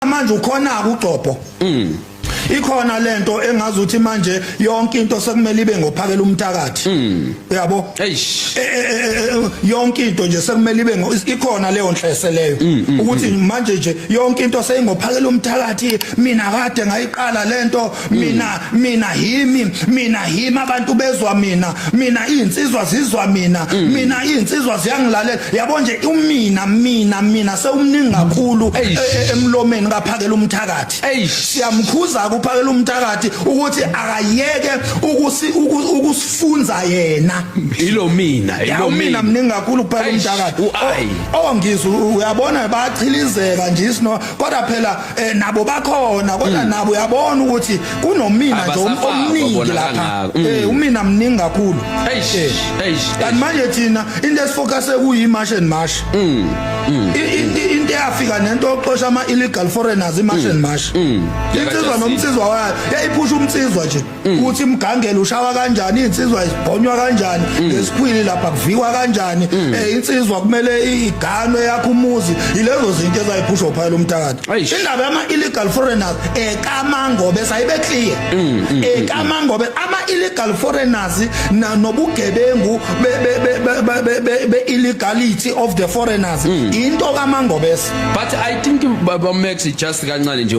manje ukhona ukugcobho mm ikhona lento engazi ukuthi manje yonke into sekumele ibe ngophakela umthakathi hmm. uyabo e, e, e, yonke into nje sekumele ibe ikhona leyo nhlese leyo hmm, hmm, ukuthi manje nje yonke into seyingophakela umthakathi mina kade ngayiqala lento mina mina himi mina himi abantu bezwa mina mina insizwa zizwa mina mm. mina insizwa ziyangilalela yabo nje umina mina mina sewumningi kakhulu e, e, emlomeni kaphakela umthakathi siyamkhuza kuphakela umthakathi ukuthi akayeke ukusi ukusifunza yena ilo mina ilo mina mningi kakhulu kuphakela umthakathi ongizwe uyabona bachilizeka nje isino kodwa phela eh nabo bakhona kodwa hmm. nabo uyabona ukuthi kunomina nje um- omningi lapha hmm. eh umina mningi kakhulu eish eh. eish kanti manje thina into esifocus ekuyi march and march mm into eyafika nento oxosha ama illegal foreigners i march and march insizwa nomsizwa wayo yayiphusha umsizwa nje Mm. ukuthi imgangelo ushawa kanjani insizwa isibhonywa kanjani mm. ngesikhwili lapha kuvikwa kanjani mm. eh insizwa kumele iganwe yakho umuzi ilezo zinto ezayiphusha uphayela umthakathi indaba yama illegal foreigners ekamangobe sayibe clear ekamangobe ama illegal foreigners nobugebengu be illegality of the foreigners into kamangobese but i think baba max just kancane nje